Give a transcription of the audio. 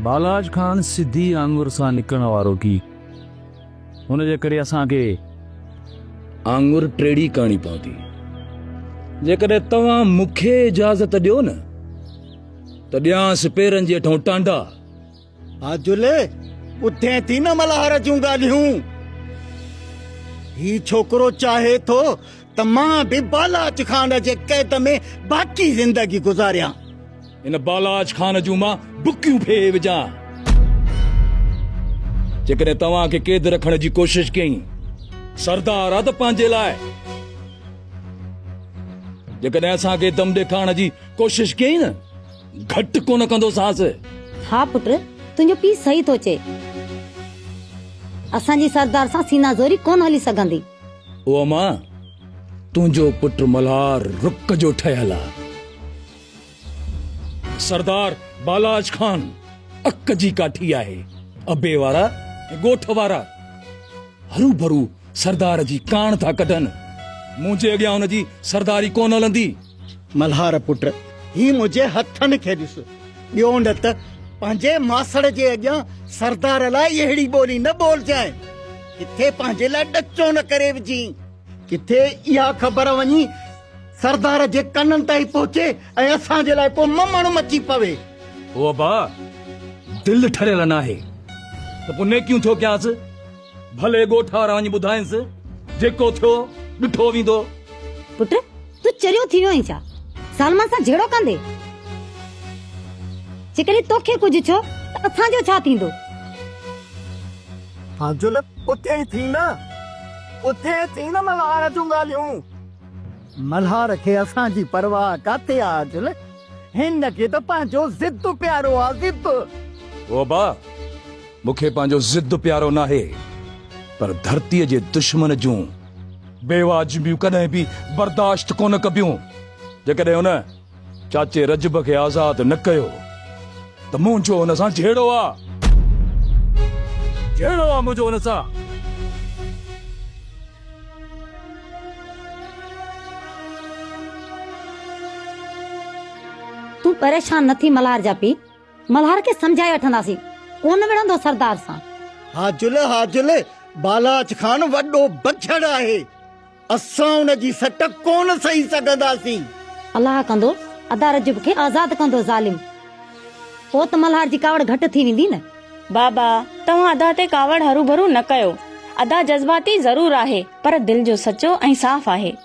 بالاچ کان سڌي آڱر سان نڪرڻ وارو ڪي ان جي ڪري اسان کي آڱر ٽيڙي ڪرڻي پوندي جيڪڏهن توهان مون کي اجازت ڏيو نه ته ڏيانس پيرن جي هيٺون ٽانڊا آجل ٻڌين ٿي نه ملهار جون ڳالهيون هي ڇوڪرو چاهي ٿو ته مان به بالاچ خان جي قيد ۾ باقي زندگي گذاريان. ان بالاچ خان جون مان بڪيون ڦهي وجهان. جيڪڏهن توهان کي قيد رکڻ جي ڪوشش ڪيئي. سردار آ ته پنهنجي لاء. جيڪڏهن اسان کي دم ڏيکارڻ جي ڪوشش ڪيئي نه گهٽ ڪونه ڪندوسانس. ها پٽ، تنهنجو پيء صحيح ٿو چئي. اسان جي سردار سان سينا زوري ڪونه هلي سگهندي. او اما! تنهنجو پٽ ملهار رڪ جو ٺهيل آ. سردار بالاچ خان اڪ جي ڪاٺي آهي. ابي وارا ۽ ڳوٺ وارا هروڀرو سردار جي ڪاڻ ٿا ڪڍن. منهنجي اڳيان ان جي سرداري ڪونه هلندي. ملهار پٽ هي منهنجي هٿن کي ڏس. ٻيو نه ته پنهنجي ماسڙ جي اڳيان سردار لاء اهڙي ٻولي نه ٻولجانء. ڪٿي پنهنجي لاء ڏچو نه ڪري وجهين. ڪٿي اها خبر وڃي سردار جي ڪنن تائين پهچي ۽ اسان جي لاء ڪو ممڻ مچي پوي. هو ابا دل ٺريل ناهي ته پوء نيڪيون ڇو ڪيانس. ڀلي ڳوٺ وڃي ٻڌائينس، جيڪو ٿيو ڏٺو ويندو. پٽ! تون چريو ٿي ويو آهين ڇا؟ سالمن سان جهيڙو ڪندي؟ جيڪڏهن توکي ڪجهه ٿيو ته اسان جو ڇا ٿيندو؟ فاضل! اٿي ئي ٿي نه، اٿي ئي ٿي نه ملهار جون ڳالهيون. ملهار کي اسان جي پرواهه ڪاٿي آ عاجل، هن کي ته پنهنجو ضد پيارو آ، ضد. هو با! مون کي پنهنجو ضد پيارو ناهي پر ڌرتيء جي دشمن جون بي واجبيون ڪڏهن به برداشت ڪونه ڪبيون. جيڪڏهن هن چاچي رجب کي آزاد نه ڪيو ته منهنجو هن سان جهيڙو آ. جهيڙو آ منهنجو هن سان. تون پريشان نه ٿي ملهار جا پيء. ملهار کي سمجهائي وٺنداسين. ڪونه وڙهندو سردار سان. حاجل حاجل بالاچ خان وڏو بڇڙ آهي. اسان ان جي سٽ ڪونه سهي سگهنداسين. الله ڪندو ادا رجب کي آزاد ڪندو ظالم. پوء ته ملهار جي ڪاوڙ گهٽ ٿي ويندي نه. بابا توهان ادا تي ڪاوڙ هروڀرو نه ڪيو. ادا جذباتي ضرور آهي پر دل جو سچو ۽ صاف آهي.